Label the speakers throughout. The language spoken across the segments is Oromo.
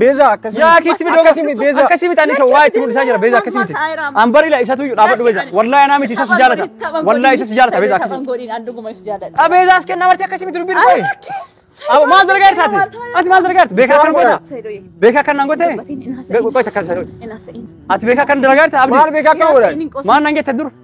Speaker 1: Beeza akkasii. Yaa
Speaker 2: kiitti bidoo akkasii miti
Speaker 3: beeza. Akkasii miti ani isa waa itti mul'isaa jira beeza akkasii miti. An bari la isatu iyyuu dhaabadhu beeza. Wallahi anaa miti isa si jaalata. Wallahi isa si jaalata beeza akkasii. A beeza as kenna marti akkasii miti dubbiin qoye. Awo maal dalagaar taate? Ati maal dalagaar taate? Beekaa kan goota? Beekaa kan naan gootee? Qoy takka isa. Ati beekaa kan dalagaar taate? Maal beekaa kan godhan?
Speaker 2: Maal naan geette dura?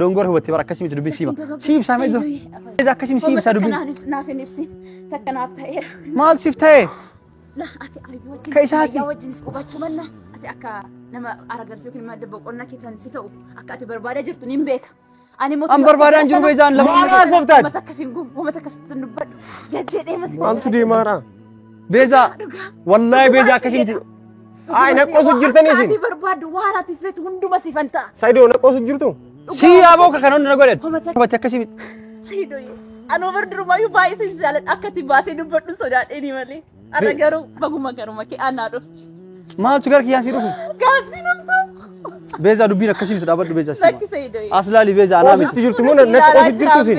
Speaker 1: Dongora hubatte bara akkasii
Speaker 3: miti dubbiin siima. Sii ibsaa mee dura. Edaa akkasii sii ibsaa dubbiin. Naaf hin ibsin.
Speaker 1: Takka naaf ta'eera. Maal siif ta'e?
Speaker 3: La ati
Speaker 1: ayyuu wajjin Ka isaati. fayyaa wajjinis
Speaker 3: hubachuu manna
Speaker 1: ati akka nama aragarfii yookiin madda boqonnaa keessan si ta'u akka ati barbaadaa jirtu niin beeka. Ani immoo An barbaadaan akka jiru sana- beezaan
Speaker 3: lama. Maal haasoftaan? Uummata
Speaker 2: akkasiin gu- uummata
Speaker 1: akkasitti hin dubbadhu. Gad jedhee mata Maaltu deemaara?
Speaker 2: Beezaa
Speaker 3: wallaahi beezaa akkasii miti. Ayi na
Speaker 2: qoosu jirtan isin. Ati barbaaddu waan
Speaker 1: ati
Speaker 2: feetu
Speaker 1: hunduma si fanta. Saidoo na qoosu jirtu.
Speaker 2: Sii yaaboo ka
Speaker 3: kana hunda na godhe. Hubate akkasii miti. Saidoo
Speaker 1: anoo bar durumayyuu baay'ee sin jaaladha akka ati baasee dubbadhu sodaadheeni malee. Arra garuu baguma garuma kee aanaa dhufu. Maaltu gara
Speaker 3: kiyyaan sii dhufu? Gaaffii namtu.
Speaker 1: Beezaa dubbiin
Speaker 3: akkasii miti dhaabadhu beezaa sii. Lakki Saidoo. Aslaali
Speaker 1: beezaa anaa miti.
Speaker 3: Qoosutti jirtu moo na qoosu
Speaker 2: jirtu isin.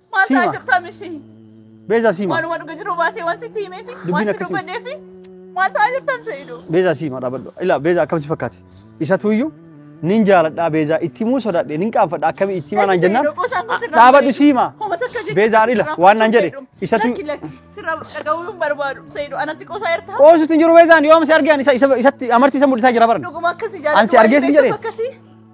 Speaker 3: Maal Siima. ta'aa jirta mishii?
Speaker 1: Beezaa siima.
Speaker 3: Waanuma dhuga jiru baasee waan
Speaker 1: sitti himee fi Dubbiin waan si akkasii.
Speaker 3: dubbannee
Speaker 1: fi maal ta'aa jirta Seeyidu? Beezaa siima dhaabadhu.
Speaker 3: Ilaa beezaa akkam si fakkaate? Isatu iyyuu nin jaaladhaa beezaa itti muu sodaadhe nin qaanfadha akkamii itti himaa naan jennaan dhaabadhu siima. Beezaan ila waan naan jedhe isatu Lakki lakki sirra
Speaker 1: dhaga'uu hin barbaadu Seeyidu anatti qoosaa jirta. qoosuutti hin jiru beezaan yoom
Speaker 3: si argaan isa isa- isatti amartii isa mul'isaa jira baran. Dhuguma akkasii jaalatu. Ansi
Speaker 1: argee sin jedhee? Akkasii.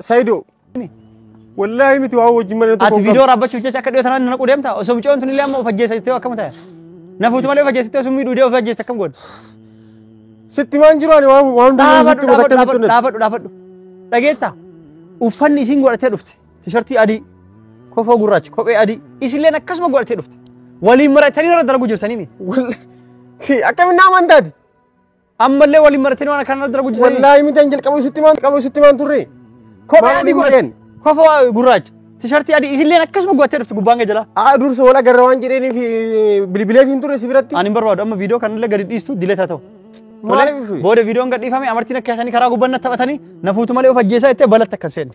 Speaker 2: Sayido. Wallaahi miti waa wajjin mana tokko. Ati viidiyoo raabbachuuf jecha
Speaker 3: akka dhiyootan na naquu deemta. Osoo mucoon tun illee amma of ajjeessa jettee akkam ta'a? Na fuutu malee of ajjeessittee osoo miidhuu dee of ajjeessa akkam goota?
Speaker 2: Sitti maan jiru ani waan waan durii Dhaabadhu sitti mata dhaabadhu akkamitti dhaabadhu dhaabadhu
Speaker 3: dhaabadhu. Dhageetta? Uffanni isiin godhattee dhufte. Tishartii adii, kofoo gurraacha, kophee adii. Isilleen akkasuma godhattee dhufte. Waliin maratanii irra dalagu jirtanii mi? Wallaahi.
Speaker 2: Akkamitti naa amantaati? Ammallee
Speaker 3: waliin maratanii waan akkanaa dura guddisanii. Wallaahi miti an jalqabu isitti
Speaker 2: maan qabu isitti maan turre. Kophee Maal adii
Speaker 3: hin godheen. godheen? Kofa waa gurraacha. Tishartii adii isilleen akkasuma gubattee dhufte gubbaan kee jala. Aa dursa wal agarra waan
Speaker 2: jedheeniif bilbileef hin turre si biratti. Ani hin barbaadu amma viidiyoo kanallee
Speaker 3: gadi dhiistu diletaa ta'u. Maaliif? Booda viidiyoon gadhiifame amartiin akka yaasanii karaa gubbaan na taphatanii na fuutu malee of ajjeesaa jettee balatti akkas seenne.